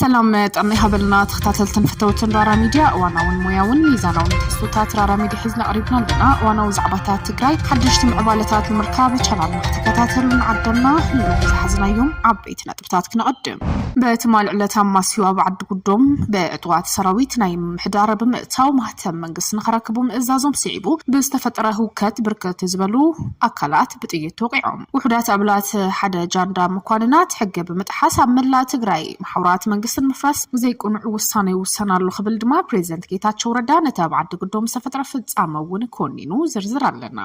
ሰላም ጥዕና ይሃበልና ተኸታተልትን ፈተውትን ራራ ሚድያ እዋናውን ሞያውን ሚዛናውን ትሕዝቶታት ራራ ሚድያ ሒዝና ቀሪብና ኣለና እዋናዊ ዛዕባታት ትግራይ ሓደሽቲ ምዕባለታት ንምርካብ ቻናልና ከተከታተሉ ንዓደምና ንሎሚ ዝሓዝናዮም ዓበይቲ ነጥቢ ነጥብታት ክነቐድም። በትማሊ ዕለት ኣማስዩ ኣብ ዓዲ ጉዶም ብዕጡቓት ሰራዊት ናይ ምምሕዳር ብምእታው ማህተም መንግስቲ ንኸረክቡ ምእዛዞም ስዒቡ ብዝተፈጠረ ህውከት ብርክት ዝበሉ ኣካላት ብጥይት ተወቒዖም። ውሑዳት ኣባላት ሓደ ጃንዳ መኳንናት ሕጊ ብምጥሓስ ኣብ መላእ ትግራይ መሓውራት መንግስቲ ንምፍራስ ዘይቅኑዕ ውሳነ ይውሰን ኣሎ ክብል ድማ ፕሬዚደንት ጌታቸው ረዳ ነቲ ኣብ ዓዲ ጉዶም ዝተፈጥረ ፍፃመ እውን ኮኒኑ። ዝርዝር ኣለና። ኣለና።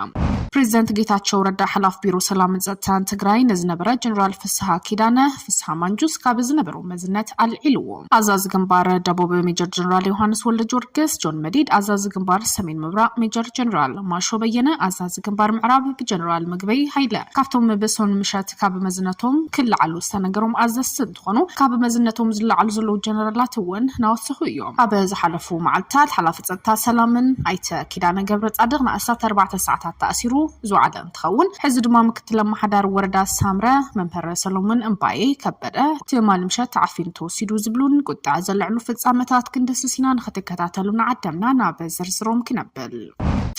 ፕሬዚደንት ጌታቸው ረዳ ሓላፊ ቢሮ ሰላምን ፀጥታን ትግራይ ንዝነበረ ጀነራል ፍስሃ ኪዳነ፣ ፍስሃ ማንጁስ፣ ካብ ዝነበሮ መዝነት ኣልዒልዎ። ኣዛዚ ግንባር ደቡብ ሜጀር ጀነራል ዮሃንስ ወልደጀወርግስ፣ ጆን መዲድ፣ ኣዛዚ ግንባር ሰሜን ምብራቕ ሜጀር ጀነራል ማሾ በየነ፣ ኣዛዚ ግንባር ምዕራብ ብጀነራል ምግበይ ሃይለ ካብቶም ብሶን ምሸት ካብ መዝነቶም ክለዓሉ ዝተነገሮም ኣዘዝቲ እንትኾኑ ካብ መዝነቶም ዝለዓሉ ዘለዉ ጀነራላት እውን ናወሰኹ እዮም። ኣብ ዝሓለፉ መዓልታት ሓላፊ ፀጥታ ሰላምን ኣይተ ኪዳነ ገብረፃድቕ ንኣስታት ኣርባዕተ ሰዓታት ተኣሲሩ ዝወዓለ እንትኸውን ሕዚ ድማ ምክትል ኣማሓዳሪ ወረዳ ሳምረ መምህር ሰሎሞን እምባየ ከበደ ትማሊ ምሸት ተዓፊኑ ተወሲዱ ዝብሉን ቁጠዐ ዘለዕሉ ፍፃመታት ክንድህስስ ኢና ንክትከታተሉና ዓደምና ናብ ዝርዝሮም ክነብል።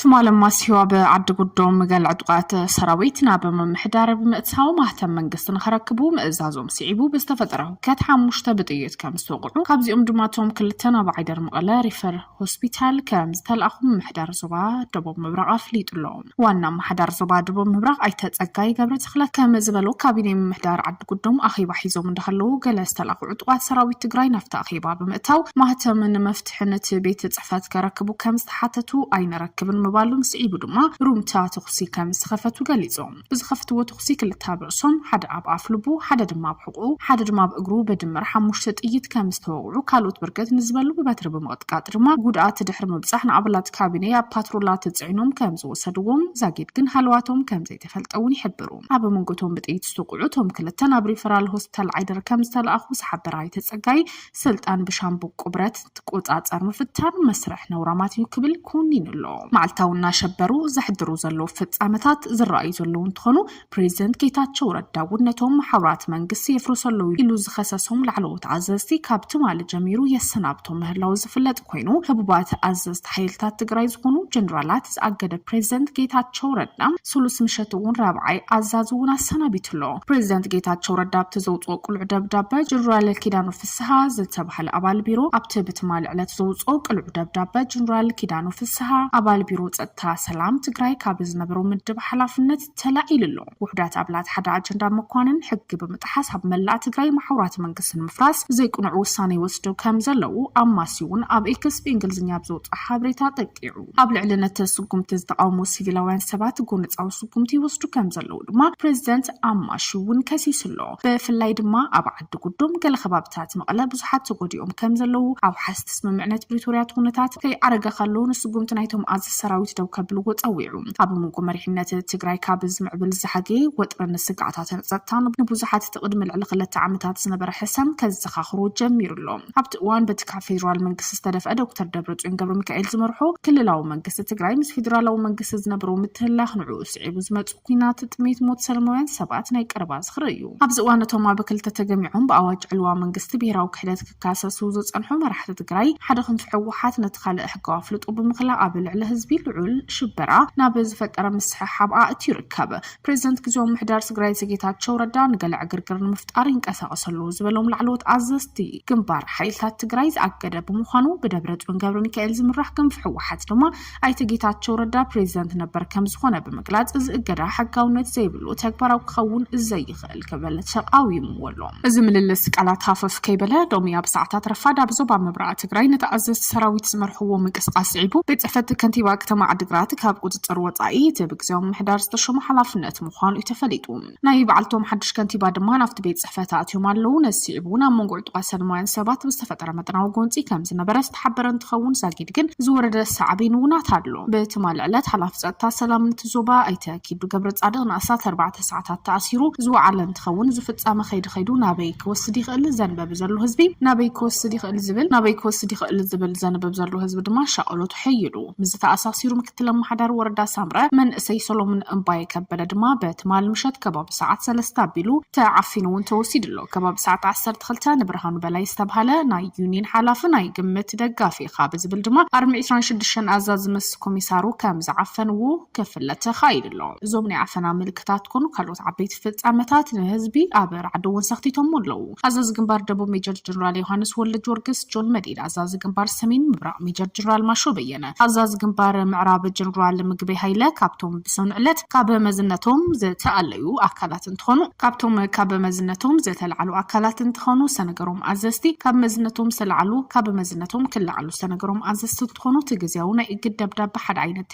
ትማሊ ማሲዋ ብዓዲ ጉዶም ገለ ዕጡቓት ሰራዊት ናብ ምምሕዳር ብምእታው ማህተም መንግስቲ ንኸረክቡ ምእዛዞም ስዒቡ ብዝተፈጠረ ሁከት ሓሙሽተ ብጥይት ከም ዝተወቕዑ ካብዚኦም ድማ እቶም ክልተ ናብ ዓይደር መቐለ ሪፈር ሆስፒታል ከም ዝተልኣኹ ምምሕዳር ዞባ ደቡብ ምብራቕ ኣፍሊጡ ኣሎ። ዋና ኣመሓዳር ዞባ ደቡብ ምብራቕ ኣይተ ፀጋይ ገብረተኽለ ከም ዝበሎ ካቢኔ ምምሕዳር ዓዲ ጉዶም ኣኼባ ሒዞም እንዳሃለዉ ገለ ዝተላእኹ ዕጡቓት ሰራዊት ትግራይ ናብቲ ኣኼባ ብምእታው ማህተም ንመፍትሒ ትሕነቲ ቤት ፅሕፈት ከረክቡ ከምዝተሓተቱ ኣይንረክብን ምባሎም ስዒቡ ድማ ሩምታ ተኹሲ ከምዝኸፈቱ ገሊፆም። ብዝኸፍትዎ ተኹሲ ክልተ ኣብ ርእሶም፣ ሓደ ኣብ ኣፍ ልቡ፣ ሓደ ድማ ኣብ ሕቑኡ፣ ሓደ ድማ ኣብ እግሩ ብድምር ሓሙሽተ ጥይት ከምዝተወቕዑ ካልኦት ብርክት ንዝበሉ ብበትሪ ብምቕጥቃጥ ድማ ጉድኣት ድሕሪ ምብፃሕ ንኣባላት ካቢኔ ኣብ ፓትሮላ ተፅዒኖም ከምዝወሰድዎም ዛጊድ ግን ሃለዋቶም ከምዘይተፈልጠ እውን ይሕብሩ። ኣብ መንጎ እቶም ብጥይት ዝተወቕዑ እቶም ክልተን ኣብ ሪፈራል ሆስፒታል ዓይደር ከምዝተልኣኹ ዝሓበረ ኣይተ ፀጋይ፣ ስልጣን ብሻምብቆ ብረት ትቆፃፀር ምፍታን መስርሕ ነውራማት እዩ ክብል ኮኒኑ ኣሎ። መዓልታዊ እናሸበሩ ዘሕድሩ ዘለዉ ፍፃመታት ዝረኣዩ ዘለዉ እንትኾኑ ፕሬዚደንት ጌታቸው ረዳ እውን ነቶም መሓውራት መንግስቲ የፍርሱ ኣለዉ ኢሉ ዝኸሰሶም ላዕለዎት ኣዘዝቲ ካብ ትማሊ ጀሚሩ የሰናብቶም ምህላዉ ዝፍለጥ ኮይኑ ህቡባት ኣዘዝቲ ሓይልታት ትግራይ ዝኾኑ ጀነራላት ዝኣገደ ፕሬዚደንት ጌታቸው ረዳ ስሉስ ምሸት እውን ራብዓይ ኣዛዚ እውን ኣሰናቢቱ ኣሎ። ፕሬዚደንት ጌታቸው ረዳ ኣብቲ ዘውፅኦ ቅሉዕ ደብዳበ ጀነራል ኪዳኑ ፍስሃ ዝተባሃለ ኣባል ቢሮ ኣብቲ ብትማሊ ዕለት ዘውፅኦ ቅሉዕ ደብዳበ ጀነራል ኪዳኑ ፍስሃ ኣባል ቢሮ ፀጥታ ሰላም ትግራይ ካብ ዝነበሮ ምድብ ሓላፍነት ተላዒሉ ኣሎ። ውሑዳት ኣባላት ሓደ ኣጀንዳ መኳንን ሕጊ ብምጥሓስ ኣብ መላእ ትግራይ መሓውራት መንግስቲ ንምፍራስ ዘይቅኑዕ ውሳነ ይወስዱ ከም ዘለዉ ኣማስይ'ውን ኣብ ኤክስ ብእንግሊዝኛ ኣብ ዘውጽኦ ሓበሬታ ጠቂዑ። ኣብ ልዕሊ ነቲ ስጉምቲ ዝተቓወሙ ሲቪላውያን ሰባት ጎነጻዊ ስጉምቲ ይወስዱ ከም ዘለዉ ድማ ፕረዚደንት ኣማሺ እውን ከሲሱ ኣሎ። ብፍላይ ድማ ኣብ ብጉዱም ገለ ከባብታት መቐለ ብዙሓት ተጎዲኦም ከም ዘለዉ ኣውሓስቲ ስምምዕነት ፕሪቶርያ እቲ ኩነታት ከይኣረገ ከሎ ንስጉምቲ ናይቶም ኣዘዝቲ ሰራዊት ደው ከብልዎ ፀዊዑ። ኣብ መንጎ መሪሕነት ትግራይ ካብ ዝምዕብል ዝሓገየ ወጥርን ስግኣታትን ፀጥታን ንብዙሓት እቲ ቅድሚ ልዕሊ ክልተ ዓመታት ዝነበረ ሕሰም ከዘኻኽሮ ጀሚሩ ኣሎ። ኣብቲ እዋን በቲ ካብ ፌዴራል መንግስቲ ዝተደፍአ ዶክተር ደብረፅዮን ገብረሚካኤል ዝመርሖ ክልላዊ መንግስቲ ትግራይ ምስ ፌዴራላዊ መንግስቲ ዝነበሮ ምትህልላኽ ንዕኡ ስዒቡ ዝመፁ ኲናት፣ ጥሜት፣ ሞት ሰለማውያን ሰባት ናይ ቀረባ ዝኽሪ እዩ። ኣብዚ እዋን እቶም ኣብ ክልተ ተገሚዖም ብኣዋጅ ዕልዋ መንግስቲ ብሄራዊ ክሕደት ክካሰሱ ዝፀንሑ መራሕቲ ትግራይ ሓደ ክንፊ ህወሓት ነቲ ካልእ ሕጋዊ ኣፍልጦ ብምኽላእ ኣብ ልዕሊ ህዝቢ ልዑል ሽበራ ናብ ዝፈጠረ ምስሕሓብ ኣእትዩ ይርከብ። ፕሬዚደንት ግዝያዊ ምምሕዳር ትግራይ ኣይተ ጌታቸው ረዳ ንገለ ዕግርግር ንምፍጣር ይንቀሳቐሱ ኣለዉ ዝበሎም ላዕለዎት ኣዘዝቲ ግንባር ሓይልታት ትግራይ ዝኣገደ ብምዃኑ ብደብረፅዮን ገብረሚካኤል ዝምራሕ ክንፊ ህወሓት ድማ ኣይተ ጌታቸው ረዳ ፕሬዚደንት ነበር ከም ዝኾነ ብምግላፅ እዚ እገዳ ሕጋውነት ዘይብሉ ተግባራዊ ክኸውን ዘይኽእል ክብል ተቃዊምዎ ኣሎ። እዚ ምልልስ ቃላት ሃፈፍ ከይበለ ሎሚ ኣብ ሰዓታት ረፋድ ኣብ ዞባ ምብራቅ ትግራይ ነቲ ኣዘዝቲ ሰራዊት ዝመርሕዎ ምንቅስቃስ ስዒቡ ቤት ፅሕፈት ከንቲባ ከተማ ዓዲግራት ካብ ቁፅፅር ወፃኢ እቲ ብግዝያዊ ምምሕዳር ዝተሾመ ሓላፍነት ምዃኑ እዩ ተፈሊጡ። ናይ በዓልቶም ሓድሽ ከንቲባ ድማ ናብቲ ቤት ጽሕፈት ኣእትዮም ኣለዉ። ነዚ ስዒቡ እውን ኣብ መንጎ ዕጡቓት ሰልማውያን ሰባት ብዝተፈጠረ መጠናዊ ጎንጺ ከም ዝነበረ ዝተሓበረ እንትኸውን ዛጊድ ግን ዝወረደ ሳዕቤን እውን ኣሎ። ብትማሊ ዕለት ሓላፊ ጸጥታ ሰላምን እቲ ዞባ ኣይተ ኪዱ ገብረጻድቕ ንኣስታት ኣርባዕተ ሰዓታት ተኣሲሩ ዝወዓለ እንትኸውን እዚ ፍጻመ ከይዲ ከይዱ ናበይ ክወስድ ይኽእል ዘንበቢ ዘሎ ህዝቢ ናበይ ክወስድ ይኽእል ዝብል ናበይ ክወስድ ይኽእል ዝብል ዘንብብ ዘሎ ህዝቢ ድማ ሻቐሎቱ ሐይሉ ምስዚ ተኣሳሲሩ ምክትል ኣመሓዳሪ ወረዳ ሳምረ መንእሰይ ሰሎሙን እምባየ ከበደ ድማ በትማሊ ምሸት ከባቢ ሰዓት ሰለስተ ኣቢሉ ተዓፊኑ እውን ተወሲዱ ኣሎ። ከባቢ ሰዓት ዓሰርተ ክልተ ንብርሃኑ በላይ ዝተብሃለ ናይ ዩኒን ሓላፊ ናይ ግምት ደጋፊ ኢኻ ብዝብል ድማ ኣርሚ ዕስራን ሽዱሽተን ኣዛዚ ምስ ኮሚሳሩ ከም ዝዓፈንዎ ክፍለ ተኻኢሉ ኣሎ። እዞም ናይ ዓፈና ምልክታት ኮኑ ካልኦት ዓበይቲ ፍጻመታት ንህዝቢ ኣብ ራዕዲ እውን ሰኽቲቶሞ ኣለዉ። ኣዛዚ ግንባር ደቡብ ሜጀር ጀነራል ዮሃንስ ወልደጀወርግስ፣ ጆን መዲድ፣ ኣዛዚ ግንባር ሰሜን ምብራቕ ሜጀር ጀነራል ማሾ በየነ፣ ኣዛዚ ግንባር ምዕራብ ጀነራል ምግበይ ሃይለ ካብቶም ብሰኑይ ዕለት ካብ መዝነቶም ዝተኣለዩ ኣካላት እንትኾኑ፣ ካብቶም ካብ መዝነቶም ዝተልዓሉ ኣካላት እንትኾኑ ዝተነገሮም ኣዘዝቲ ካብ መዝነቶም ዝተልዓሉ ካብ መዝነቶም ክልዓሉ ዝተነገሮም ኣዘዝቲ እንትኾኑ እቲ ግዝያዊ ናይ እግድ ደብዳበ ሓደ ዓይነት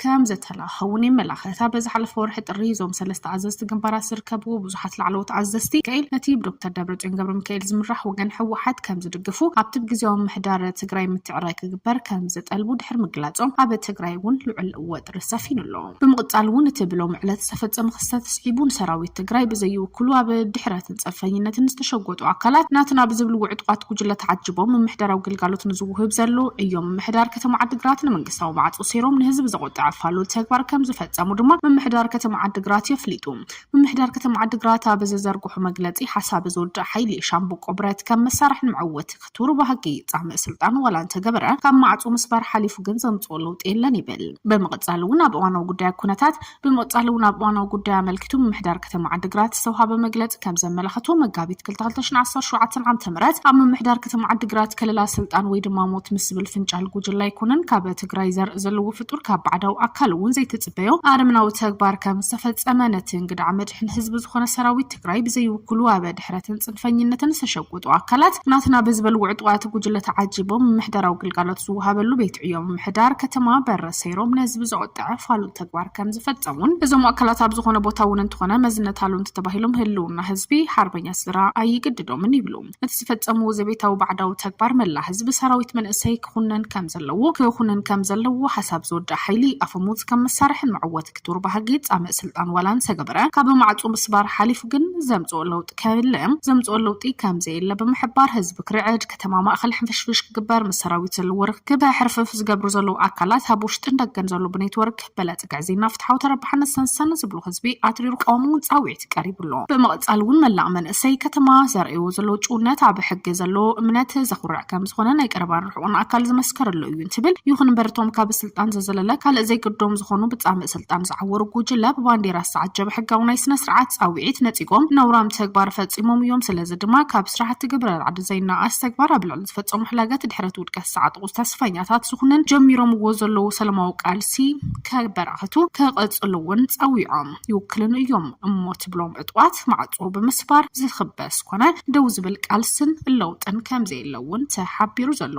ከም ዘተላእከውን የመላኽት። እታ በዚ ሓለፈ ወርሒ ጥሪ እዞም ሰለስተ ኣዘዝቲ ግንባራት ዝርከብዎ ብዙሓት ላዕለዎት ኣዘዝቲ ሚካኤል ነቲ ብዶክተር ደብረፅዮን ገብረሚካኤል ዝምራሕ ወገን ህወሓት ከም ዝድግፉ ኣብቲ ብ ግዚያዊ ምምሕዳር ትግራይ ምትዕራይ ክግበር ከም ዝጠልቡ ድሕሪ ምግላፆም ኣብ ትግራይ እውን ልዑል ወጥሪ ሰፊኑ ኣሎ። ብምቕፃል እውን እቲ ብሎሚ ዕለት ዝተፈፀመ ክስተት ስዒቡ ንሰራዊት ትግራይ ብዘይውክሉ ኣብ ድሕረ ብፀንፈኝነትን ዝተሸጎጡ ኣካላት ናትና ብዝብልዎ ዕጡቓት ጉጅለ ተዓጅቦም ምምሕዳራዊ ግልጋሎት ንዝውህብ ዘሎ እዮ ምምሕዳር ከተማ ዓዲግራት ንመንግስታዊ ማዕፆ ሴሮም ንህዝቢ ዘቆጥዐ ፋሉል ተግባር ከም ዝፈፀሙ ድማ ምምሕዳር ከተማ ዓዲግራት የፍሊጡ ምምሕዳር ከተማ ዓዲግራት ኣብ ዘዘርግሑ መግለፂ ሓሳብ ዝውዳእ ሓይሊ ሻምብቆ ብረት ከም መሳርሒ ንመዕወቲ እቲ ሩባ ሃቂ እዩ። ፃምእ ስልጣን ዋላ እንተገበረ ካብ ማዕፆ ምስባር ሓሊፉ ግን ዘምፅኦ ለውጢ የለን ይብል። ብምቕፃል እውን ኣብ እዋናዊ ጉዳይ ኩነታት ብምቕፃል እውን ኣብ እዋናዊ ጉዳይ ኣመልኪቱ ምምሕዳር ከተማ ዓዲግራት ዝተውሃበ መግለፂ ከምዘመላኸቶ መጋቢት ክልተ ክልተ ሽሕን ዓሰርተ ሸውዓተን ዓመተ ምህረት ኣብ ምምሕዳር ከተማ ዓዲግራት ከለላ ስልጣን ወይ ድማ ሞት ምስ ዝብል ፍንጫል ጉጅለ ኣይኮነን ካብ ትግራይ ዘርኢ ዘለዎ ፍጡር ካብ ባዕዳዊ ኣካል እውን ዘይትፅበዮ ኣረምናዊ ተግባር ከምዝተፈፀመ ነቲ እንግድዓ መድሕን ህዝቢ ዝኾነ ሰራዊት ጥራይ ብዘይውክሉ ኣብ ድሕረትን ፅንፈኝነትን ዝተሸጉጡ ኣካላት ናትና ብዝበልዎ ዕጡቓት ጉጅለ ተዓጂቦም ምምሕዳራዊ ግልጋሎት ዝወሃበሉ ቤት ዕዮ ምምሕዳር ከተማ በረ ሰይሮም ንህዝቢ ዘቖጠዐ ፋሉል ተግባር ከም ዝፈፀሙን እዞም ኣካላት ኣብ ዝኾነ ቦታ እውን እንተኾነ መዝነት ኣልውንቲ ተባሂሎም ህልውና ህዝቢ ሓርበኛ ስድራ ኣይግድዶምን ይብሉ። እቲ ዝፈፀምዎ ዘቤታዊ ባዕዳዊ ተግባር መላእ ህዝቢ ሰራዊት መንእሰይ ክኹነን ከም ዘለዎ ክኹንን ከም ዘለዎ ሓሳብ ዝወደኣ ሓይሊ ኣፈሙዝ ከም መሳርሕን መዕወቲ ክቱር ባህጊ ፃምእ ስልጣን ዋላ እንተገበረ ካብ ማዕፁ ምስባር ሓሊፉ ግን ዘምፅኦ ለውጢ ከየለ ዘምፅኦ ለውጢ ከም ዘየለ ብምሕባር ህዝቢ ክርዕድ ከተማ ማእኸል ሕንፍሽፍሽ ክግበር ምስ ሰራዊት ዘለዎ ርኽክብ ከሕርፍፍ ዝገብሩ ዘለዉ ኣካላት ኣብ ውሽጥን ደገን ዘሎ ብኔትወርክ በለፅ ግዕዝይና ፍትሓዊ ተረባሕነት ሰንሰን ዝብሉ ህዝቢ ኣትሪሩ ክቃወም እውን ፃውዒት ቀሪቡ ኣሎ። ብምቕፃል እውን መላእ መንእሰይ ከተማ ዘርእይዎ ዘለዉ ጭውነት ኣብ ሕጊ ዘለዎ እምነት ዘኹርዕ ከምዝኾነ ናይ ቀረባን ርሑቕን ኣካል ዝመስከረሉ እዩ እንትብል፣ ይኹን እምበር እቶም ካብ ስልጣን ዘዘለለ ካልእ ዘይግዶም ዝኾኑ ብፃምእ ስልጣን ዝዓወሩ ጉጅለ ብባንዴራ ዝተዓጀበ ሕጋዊ ናይ ስነ ስርዓት ፃውዒት ነፂጎም ነውራም ተግባር ፈፂሞም እዮም። ስለዚ ድማ ካብ ስራሕቲ ግብረ ራዕዲ ዘይናኣኣስ ተግባር ኣብ ልዕሊ ዝፈፀሞ ሕላገት ድሕረት ውድቀት ዝተዓጠቑ ተስፈኛታት ዝኹነን ጀሚሮምዎ ዘለዉ ሰለማዊ ቃልሲ ከበራኸቱ ከቐፅልዎን ፀዊዖም ይውክልኑ እዮም እሞ ትብሎም ዕጡቓት ማዕፆ ብምስባር ዝኽበስ ኮነ ደው ዝብል ቃልስን ለውጥን ከምዘየለ እውን ተሓቢሩ ዘሎ